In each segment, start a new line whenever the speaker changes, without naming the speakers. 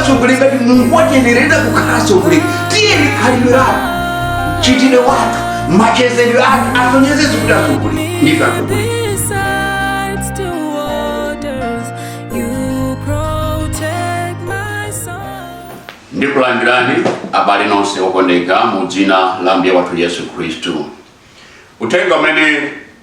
atsogoleri ngati mulungu watiyenereza kukhala atsogoleri tiyeni khalidwe lathu mchitidwe wathu machezedwe athu asonyeze kuti atsogoleri ndife atsogoleri ndikulandirani abale nonse okondeka mu dzina la mbuye wathu yesu khristu uthenga umene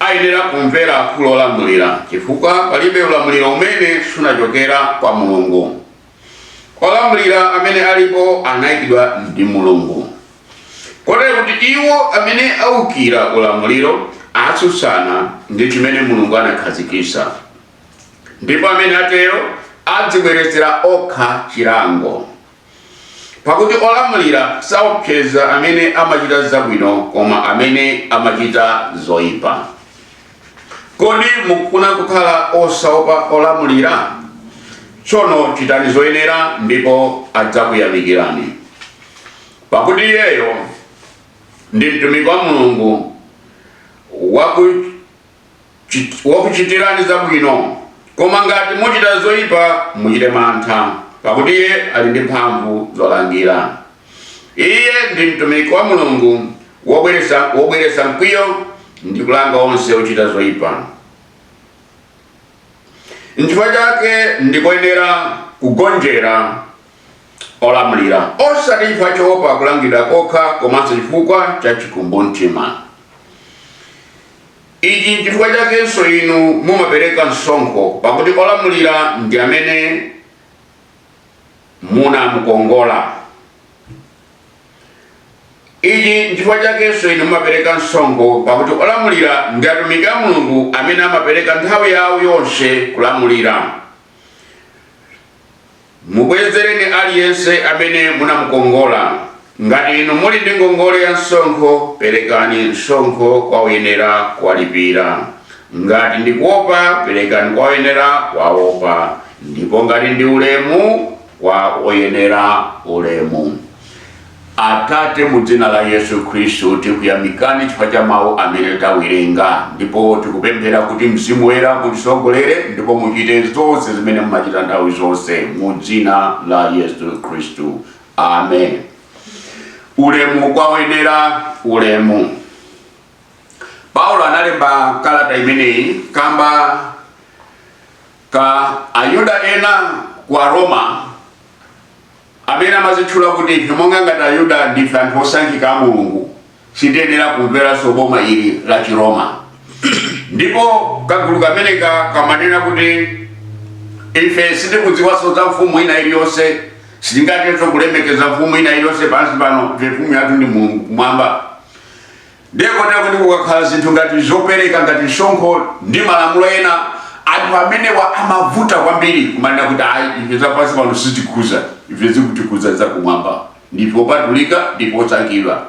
ayenera kumvera akulu olamulira chifukwa palibe ulamuliro umene sunachokera kwa Mulungu. Olamulira amene alipo anaikidwa ndi Mulungu, kotero kuti iwo amene aukira ulamuliro atsutsana ndi chimene Mulungu anakhazikitsa, ndipo amene atero adzibweretsera okha chilango. Pakuti olamulira saopseza amene amachita zabwino, koma amene amachita zoyipa. Kodi mukufuna kukhala osaopa olamulira? Tsono chitani zoyenera ndipo adzakuyamikirani. Pakuti iyeyo ndi mtumiki wa Mulungu waku chit- wakuchitirani zabwino koma ngati muchita zoyipa muchite mantha pakuti iye ali ndi mphamvu zolangira iye ndi mtumiki wa mulungu wobweretsa mkwiyo ndi kulanga onse ochita zoyipa nchifukwa chake ndikoyenera kugonjera olamulira osati chifukwa choopa kulangidwa kokha komanso chifukwa cha chikumbumtima ichi nchifukwa chakenso inu mumapereka msonkho pakuti olamulira ndi amene munamukongola ichi nchifukwa chakenso inu mumapereka msonkho pakuti olamulira ndi atumiki a mulungu amene amapereka nthawi yawo yonse kulamulira Mubwezereni aliyense amene munamukongola. Ngati inu muli ndi ngongole ya msonkho, perekani msonkho kwa oyenera kuwalipira. Ngati ndi kuopa, perekani kwa oyenera kuwaopa, ndipo ngati ndi ulemu, kwa oyenera ulemu. Atate, mu dzina la Yesu Khristu tikuyamikani chifukwa cha mawu amene tawerenga, ndipo tikupemphera kuti Mzimu Woyera mutisogolere ndipo muchite zonse zimene mumachita nthawi zonse, mu dzina la Yesu Khristu, amen. Ulemu kwa oyenera ulemu. Paulo analemba kalata imeneyi kamba ka Ayuda ena kwa Aroma Amene amazitchula kuti ife monga ngati Ayuda ndife anthu osankhika a Mulungu sitiyenera kumveranso boma ili la Chiroma. Ndipo kagulu kameneka kamanena kuti, Ife sitikudziwanso za mfumu ina iliyonse. Sitingathenso kulemekeza mfumu ina iliyonse pansi pano, ife mfumu yathu ndi Mulungu kumwamba. Ndiye kotero kuti kukakhala zinthu ngati zopereka ngati msonkho ndi malamulo ena, anthu amenewa amavuta kwambiri kumanena kuti ayi ife zapansi pano sizitikhuza, ife zikutikhuza zakumwamba, ndife opatulika, ndife osankhidwa.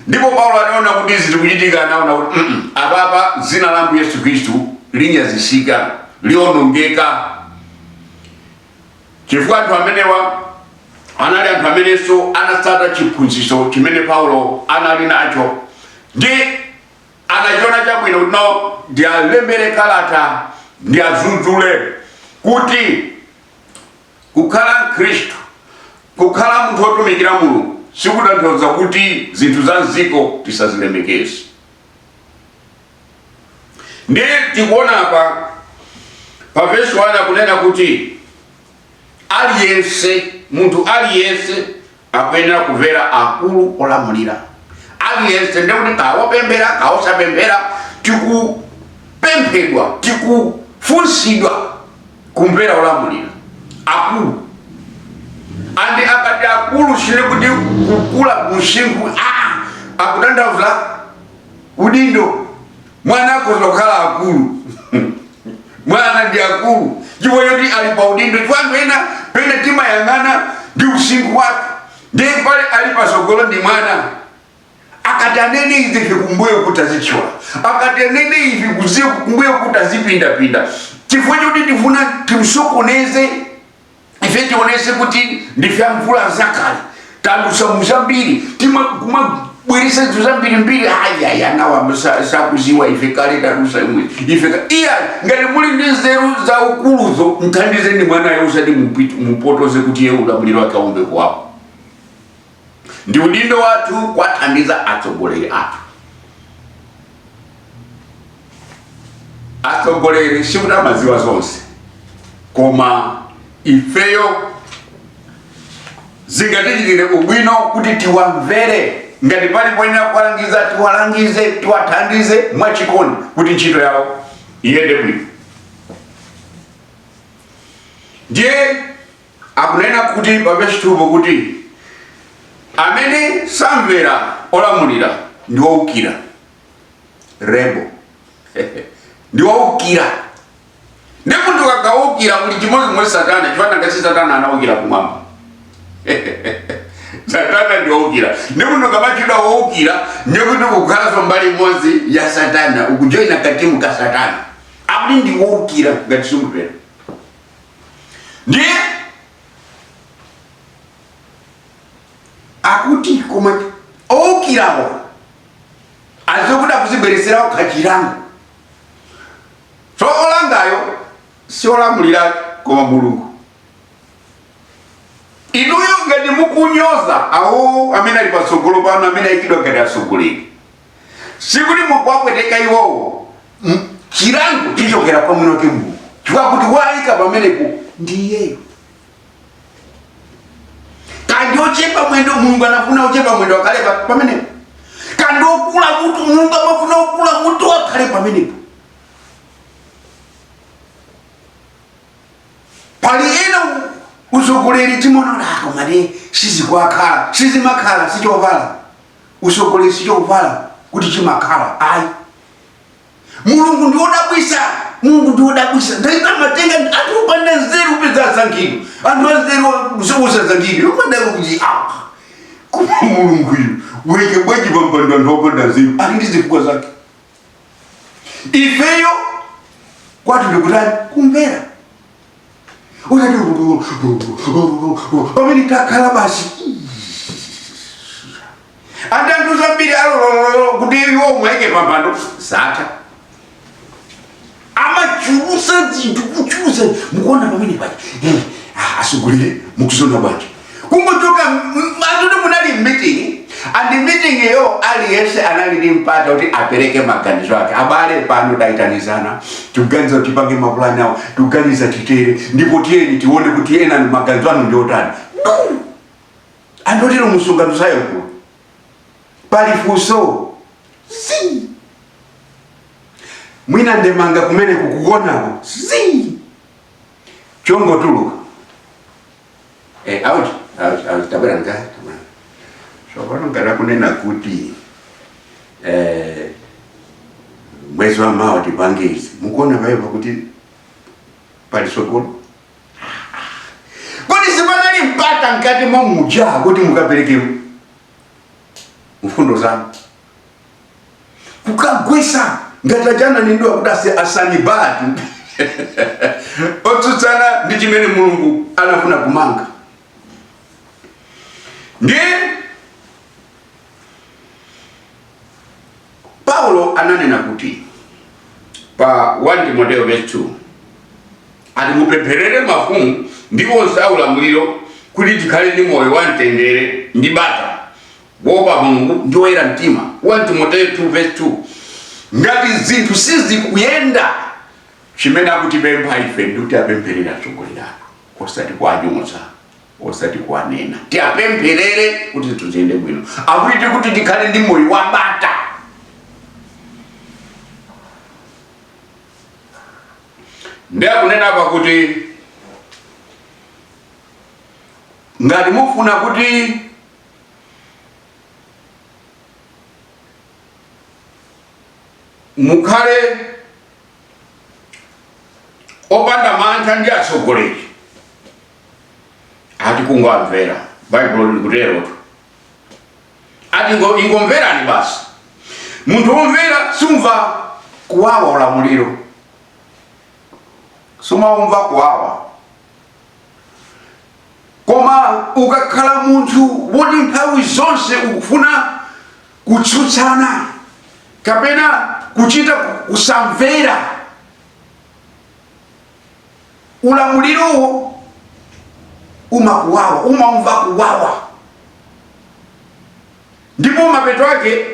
Ndipo Paulo anaona kuti izi zikuchitika, anaona kuti mm -mm, apapa dzina la Ambuye Yesu Khristu linyazisika, lionongeka. chifukwa anthu amenewa anali anthu amenenso anatsata chiphunzitso chimene paulo anali nacho ndiye anachiona chabwino kuti no ndiwalembere kalata ndiwadzudzule kuti kukhala mkhristu kukhala munthu wotumikira mulungu sikutanthauza kuti zinthu za mdziko tisazilemekeze ndiye tikuona apa pa vesi wani akunena kuti aliyense munthu aliyense akuyenera kumvera akulu olamulira aliyense ndekuti kawopemphera kawosapemphera tikupemphedwa tikufunsidwa kumvera olamulira akulu andi akati akulu sindiye kuti kukula usinkhu ah, akutanthauza udindo mwana akhoza kukhala akulu mwana ndi akulu chifukwa choti ali pa udindo chifukwa anthu ena pena timayang'ana ndi usinkhu wake ndiye pena ali patsogolo ndi mwana akati anene izi ife kumbuyo kuti azichiwa akati anene izi kuziye kukumbuyo kuti azipindapinda chifukwa choti tifuna timsokoneze ife tionetse kuti ndife amvula zakale tadutsa mu zambiri timabweretsa zinthu zambirimbiri ayaya nawa sa- sakudziwa ife kale tadutsa imwe ife ka- iya ngati muli ndi nzeru za ukuluzo mthandizeni mwanayo usati mupit- mupotoze kuti ye ulamuliro wake aombe kwawo Ndi udindo wathu kuwathandiza atsogoleri athu. Atsogoleri sikuti amadziwa zonse, koma ifeyo zingatichitire ubwino kuti tiwamvere. Ngati pali poyenera kuwalangiza, tiwalangize, tiwathandize mwachikondi kuti ntchito yawo iyende bwino. Ndiye Akunena kuti pa vesi 2 po kuti amene samvera olamulira ndi woukira rebel ndi woukira ndiye munthu akaukira kuli chimodzimodzi satana chifukwa chakuti satana anaukira kumwamba satana ndi woukira ndiye munthu kumatchedwa woukira ndi kuti kukhalanso mbali imodzi ya satana ukujoyina ku timu ya satana akuti ndi woukira ngati simumvera ndiye akuti koma owukirawo adzakhala akuzibweretsera okha chilango so olangayo si olamulira koma mulungu inuyo ngati mukunyoza awo amene ali patsogolo panu amene ayikidwa ngati atsogoleri sikuti mukuwapweteka iwowo M- chilango chichokera kwa mwini wake mulungu chifukwa choti waayika pamenepo ndi iyeyo kaya ndi ochepa mwendo mulungu anafuna ochepa mwendo akhale pa- pamenepo kaya ndi okula mutu mulungu amafuna okula mutu akhale pamenepo pali ena u- utsogoleri timanyoza kumati sizikuwakhala sizimawakhala sichovala utsogoleri sichovala kuti chimawakhala ayi mulungu ndiwodabwitsa mulungu ndiwodabwitsa nthawi zina amatenga anthu opanda nzeru upeza asankhidwa anthu anzeru osasankhidwa kumadabwa kuti ah koma mulunguyu waika bwanji pampando anthu opanda nzeru ali ndi zifukwa zake ifeyo kwathu ndikutani kumvera kuti pamene takhala basi anthu zambiri alola kuti iwo amuike pampando zatha amachulutsa zinthu kuchulutsa mukuona pamene paja Eh, ah, atsogoleri mukuziona bwanji kungochoka mwa zoti munali meeting and meeting yo aliyense anali ndi mpata kuti apereke maganizo ake abale pano tayitanizana tikuganiza kuti tipange mapulani awo tikuganiza titere ndipo tiyeni tione kuti enanu maganizo anu ndi otani andotero msonkhano sayankhula pali funso zii mwina ndemanga kumene kukonzedwako zii chongotuluka eh, out out out tabwera nga tabwera so pano ngati akunena kuti eh, mwezi wa mawa tipange izi mukuona paipa kuti pali sokolo kodi sipanali mpata mkati momuja kuti mukapereke mfundo zanu kukagwetsa ngati achana nindiwa kuti ase asanibati otsutsana ndi chimene mulungu anafuna kumanga ndiye Paulo ananena kuti pa 1 Timoteo vesi 2 ati mupempherere mafumu ndi onse aulamuliro kuti tikhale ndi moyo wa mtendere ndi bata wopa Mulungu ndi woyera mtima 1 Timoteo 2 vesi 2 ngati zinthu sizikuyenda chimene akutipempha ife ndikuti apempherere atsogoleri athu osati kuwanyoza osati kuwanena tiwapempherere kuti zinthu ziyende bwino akuti kuti tikhale ndi moyo wa bata ndiye akunena apa kuti ngati mufuna kuti mukhale opanda mantha ndi atsogoleri ati kungowamvera baibulo likuterotu ati ingomverani basi munthu womvera sumva kuwawa ulamuliro sumawumva kuwawa koma ukakhala munthu woti nthawi zonse ukufuna kutsutsana kapena kuchita kusamvera ulamulirowo umakuwawa umaumva kuwawa ndipo mapeto ake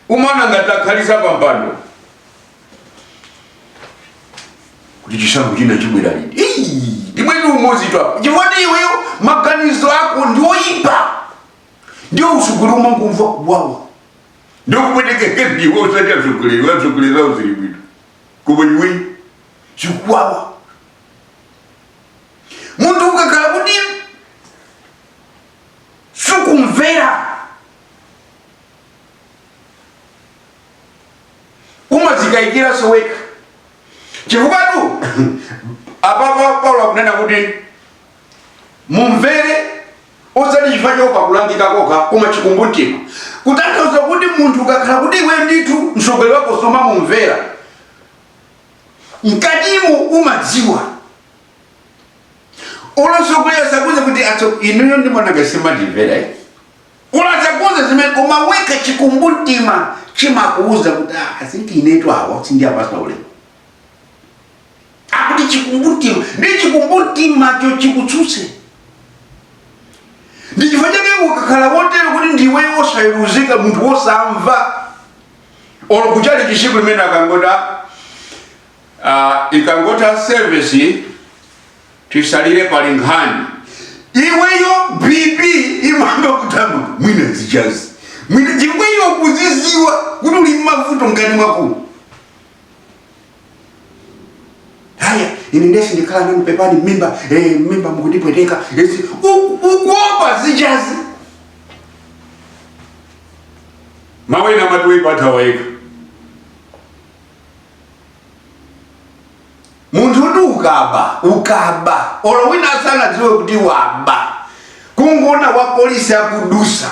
umaona ngati akhalitsa pa mpando kuti chisankho china chibwera liti Ii, ndi mwezi umodzi tu apo chifukwa ndi iweyo maganizo ako ndi oyipa ndio usogoleri umangomva kuwawa ndio kupwetekeke ndiwe osati atsogoleri atsogoleri zawo zili bwino koma iwe chikuwawa munthu ukakhala kuti sukumvera umazikayikiranso wekha chifukwatu apapa paulo akunena kuti mumvere osati chifukwa choopa kulangika kokha koma chikumbumtima kutanthauza kuti munthu ukakhala kuti iwe ndithu mtsogoleri wako sumamumvera mkatimo umadziwa olo atsogoleri asakuuze kuti atso inuyo ndimonanga simandimvera eh? olo asakuuze zimene koma wekha chikumbumtima chimakuuza kuti "Ah, i think inetu awa sindiwapatsa ulemu akuti chikumbumtima kuti chikumbumtimacho chikutsutse ndi chifukwa chake ukakhala wotero kuti ndiwe osayeruzika munthu wosamva olo kuchali chisiku limene ikangotha ah, ikangotha service tisalire pali nkhani iweyo bp imayamba kuthamanga mwina zichazi mwina iweyo kudziziwa kuti uli mmavuto mkati mwako haya ine nde sindikhala nanu pepani mmimba eh, mmimba mukundipweteka esi u- ukuopa zichani mawena amati woipa athawa yekha munthu uti ukaba ukaba olo wina asanadziwe kuti waba kungoona wa polisi akudutsa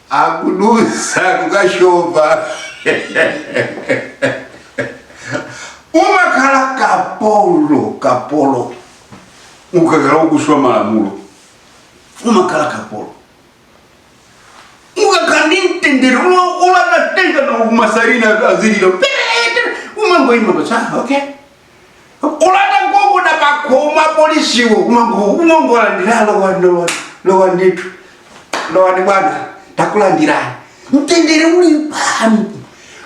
akudutsa kukushova umakhala kapolo kapolo ukakhala ukuphwanya malamulo umakhala kapolo sukhala ndi mtendere ulanatenga na umasarina azililo umangoima kuti ah, okay kulanda agogoda pakhomo polisiwo umango umangolandira lowani lowani ndithu lowani bwana takulandirani mtendere uli pano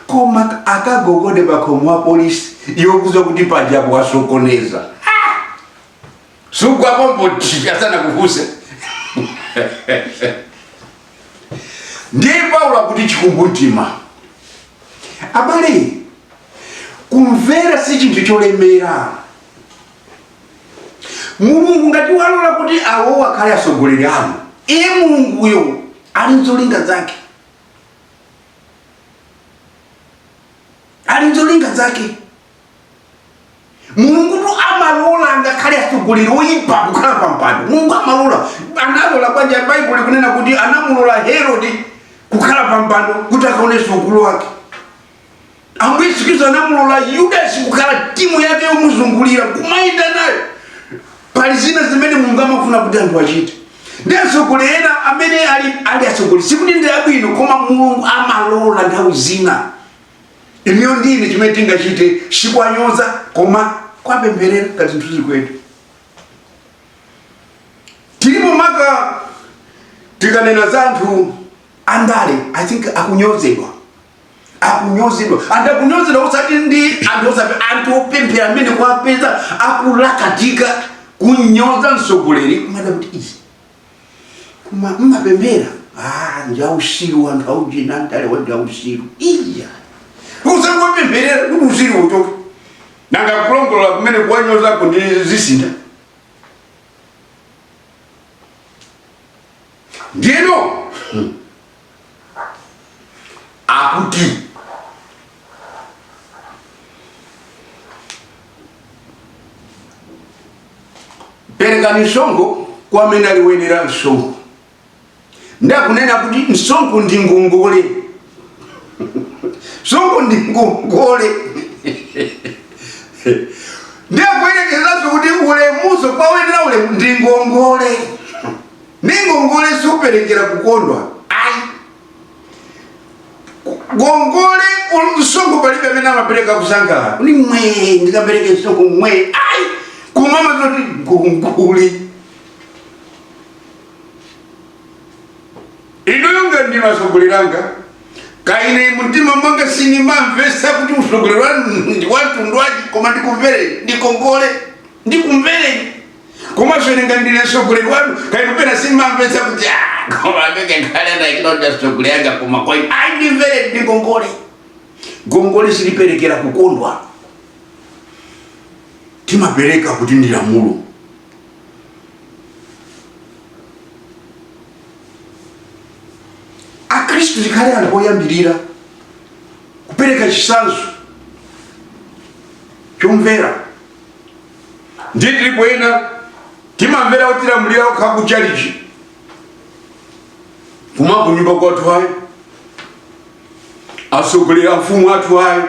koma akagogode pakhomo wa polisi yokuuza kuti pajapo wasokoneza sugwa pompo ndi asanakufunse ndiye paulo akuti chikumbumtima abale kumvera si chinthu cholemera mulungu ngati walola kuti awo akhale atsogoleri anu iye mulunguyo ali nzolinga zake ali nzolinga zake mulungutu amalola ngakhale atsogoleri oyipa kukhala pa mpando mulungu amalola analola banja baibulo likunena kuti anamulola herode kukhala pa mpando kuti akaonetse ukulu wake ambuye yesu khristu anamulola yudasi kukhala timu yake yomuzungulira kumayenda nayo pali zina zimene mulungu amafuna kuti anthu achite ndi atsogoleri ena amene ali ali atsogoleri sikuti ndi abwino koma mulungu amalola nthawi zina inuyo ndi ine chimene tingachite sikuwanyoza koma kuwapempherera ngati zinthuzi kwathu tilipo maka tikanena za anthu andale i think akunyozedwa akunyozedwa anthu akunyozedwa osati ndi anthu oti anthu opemphera amene kuwapeza akulakatika kunyoza mtsogoleri kumati kuti izi koma mmapemphera ah, n'jausiru anthu aujina mtale wa n'jausiru iya osangowapempherera kuti usiru uchoke nanga kulongolola kumene kuwanyozako ndiye zisintha ndiyeno akuti perekani msonkho kwa amene ali woyenera msonkho ndiye akunena kuti msonkho ndi ngongole msonkho ndi ngongole ndiye akuyerekezanso kuti ulemuso kwa woyenera ulemu ndi ngongole Ndi ngongole superekera kukondwa? Ayi. Ngongole ul- msonkho palibe amene amapereka kusangalala kuti mwee ndikapereke msonkho mwee ayi koma umadziwa zoti ngongole inuyo ngati ndinu atsogoleri anga kaine mumtima mwanga sindimamvetsa kuti utsogoleri wanu ndi wamtundu wanji koma ndikumvereni ndi ngongole Ndikumvereni komanso ine ngati ndine mtsogoleri wanu kaya penapake simumamvetsa kuti "Ah, koma amene nkhale anayikira kuti atsogoleri anga koma kwa ine ayi ndimvereni ndi ngongole ngongole siliperekera kukondwa timapereka kuti ndi lamulo akristu tikhale anthu oyambirira kupereka chitsanzo chomvera ndiye tilipo ena timamvera otilamulira okha ku chalichi koma kunyumba kwathu ayi atsogoleri amfumu athu ayi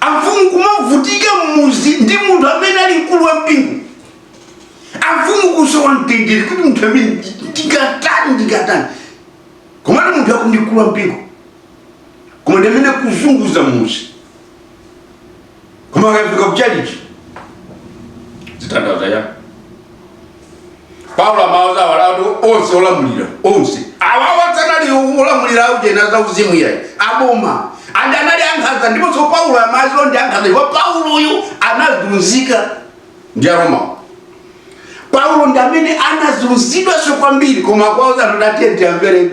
amfumu kumavutika mmudzi ndi munthu amene ali mkulu wa mpingo amfumu kusowa mtendere kuti munthu amene ndingatani ndingatani koma ati munthu akuti ndi mkulu wa mpingo koma ndi amene akuzunguza mudzi koma akafika kuchalichi zitanthauza chani paulo amauza awa atu onse olamulira onse awawa sanali olamulira aujena za uzimu iyayi aboma andi anali ankhanza ndiponso paulo amadziwa ndi ankhanza ndipo pauloyu anazunzika ndi aromawo paulo ndi amene anazunzidwanso kwambiri koma akuwauza anthu kuti teni amvereni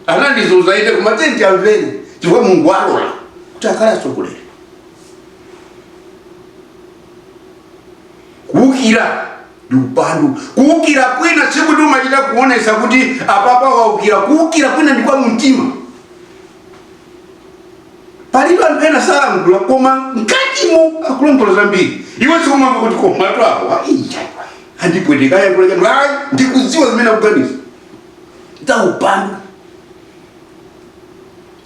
anandizunza ine koma teni amvereni chifukwa mulungu alola kuti akhale atsogoleri kuukira ndi upandu kuukira kwina sikuti umachita kuonesa kuti apapa waukira kuukira kwina ndi kwa mumtima palibe anthu ena sayankhula koma mkatimo akulankhula zambiri iwe sikumamva kuti komatu awa andipwetekawa kulekeni ayi ndikudziwa zimene akuganiza zaupandu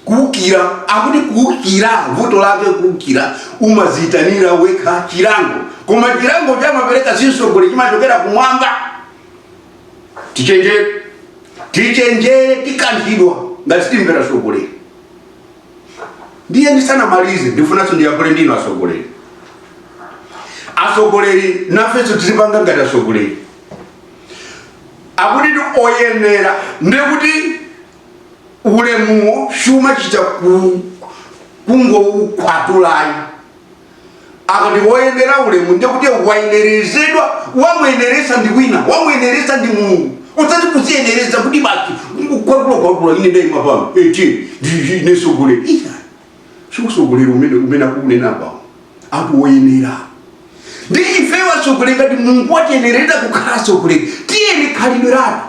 kuukira akuti kuukira vuto lake kuukira umaziitanira wekha chilango koma chilango chamapereka si mtsogoleri chimachokera kumwamba tichenjere tichenjere tikanthidwa ngati sitimvera atsogoleri ndiye ndisanamalize ndifunanso ndiyankhule ndi inu atsogoleri atsogoleri nafenso tizipanga ngati atsogoleri akuti ndi oyenera ndiye kuti ulemuwo sumachita ku- kungoukwatulayi akati woyenera ulemu ndiye kuti wayenerezedwa wamuyeneresa ndi wina wamuyeneresa ndi mulungu osati kuziyenereza kuti basi kwatulukwatulu ine ndaima pano ine nsogoleri iya sikusogolera umene umene akunena pano ati woyenera ndi ife asogoleri ngati mulungu watiyenereza kukhala asogoleri tiyeni khalidwe lathu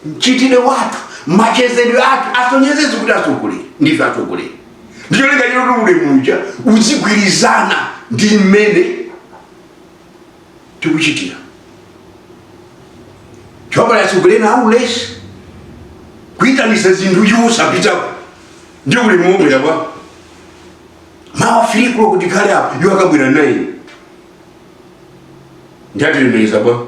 mchitidwe wathu machezedwe athu asonyezedi kuti asogoleri ndife asogoleri ndicholinga choti ulemu uja uzigwirizana ndi mmene tikuchitira chifukwa pali atsogoleri ena aulesi kuyitanisa zinthu iwo osapitako ndi ulemu ubwera bwa amawafikira kuti akhale apo iwo akabwera nde atilemekeza bwa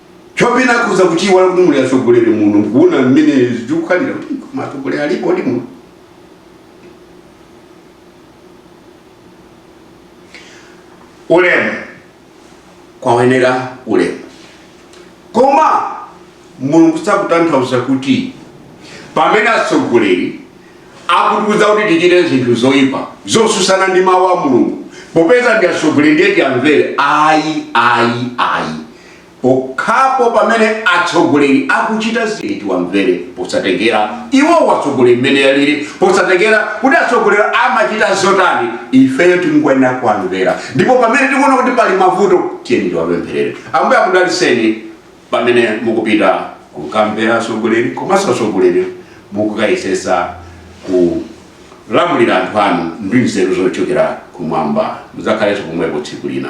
chofika pakuiwala kuti muli atsogoleri muno mkuona mmene zikukhalira kuti koma atsogoleri alipodi muno ulemu kwa oyenera ulemu
koma mulungu sakutanthauza kuti pamene atsogoleri akutiuza kuti tichite zinthu zoyipa zosusana ndi mawu a mulungu popeza ndi atsogoleri ndiye tiamvere ayi ayi ayi Pokhapo pamene atsogoleri akuchita zinthu tiwamvere posatengera iwo atsogoleri mmene alili, posatengera kuti atsogoleri amachita zotani ifeyo tingoyenera kuwamvera ndipo pamene tikuona kuti pali mavuto tiyeni tiwapempherere. Ambuye akudaliseni pamene mukupita kukamvera atsogoleri komanso atsogoleri mukukayesesa kulamulira anthu anu ndi nzeru zochokera kumwamba. Mudzakhalenso pomwepo tsiku lina.